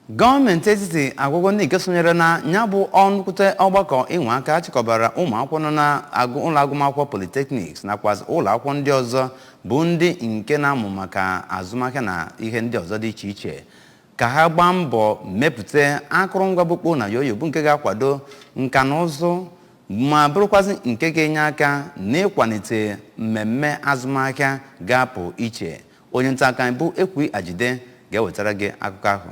gọọmenti etiti agwago ndị nke sonyere na ya bụ nnukwute ọgbakọ inwe aka chịkọbara ụmụ akwụkwọ nọ na ụlọ agụmakwụkwọ polytechnics nakwazị ụlọ akwụkwọ ndị ọzọ bụ ndị nke na-amụ maka azụmahịa na ihe ndị ọzọ dị iche iche ka ha gbaa mbọ mepụta akụrụngwa bụkpo na yoyo bụ nke ga-akwado nka na ụzụ ma bụrụkwazị nke ga-enye aka n'ịkwalite mmemme azụmahịa ga-apụ iche Onye nta akụkọ anyị bụ Ekwi Ajide ga-ewetara gị akụkọ ahụ.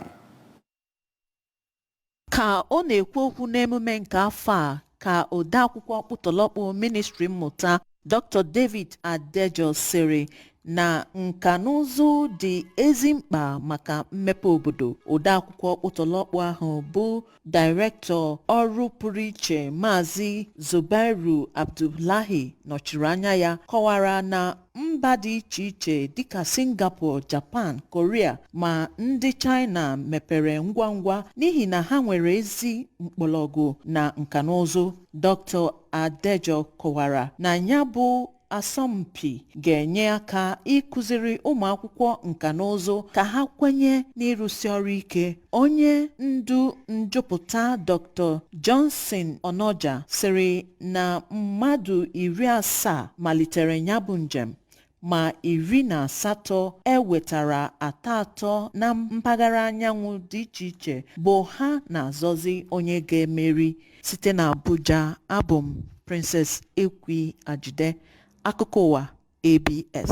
Ka ọ na-ekwu okwu n'emume nke afọ a ka odeakwụkwọ ọkpụtọlọkpụ ministri mmụta Dr. David Adejo sịrị na nka na ụzụ dị ezi mkpa maka mmepe obodo. Odeakwụkwọ ọkpụtọlọkpụ ahụ bụ Dairektọ ọrụ pụrụ iche Maazị Zubairu Abdullahi nọchiri anya ya kọwara na mba dị iche iche dịka Singapore, Japan, Korea ma ndị China mepere ngwa ngwa n'ihi na ha nwere ezi mkpọrọgwụ na nkanụzụ. Dr. Adejo kọwara na ya bụ asọmpi ga-enye aka ịkụziri ụmụ akwụkwọ nka na ụzụ ka ha kwenye n'ịrụsi ọrụ ike onye ndu njụpụta dr johnson onoja sịrị na mmadụ iri asaa malitere ya bụ njem ma iri na asatọ e wetara atọ atọ na mpaghara anyanwụ dị iche iche bụ ha na-azọzi onye ga-emeri site na abuja abụ m princess ekwi ajide akụkọ ụwa abs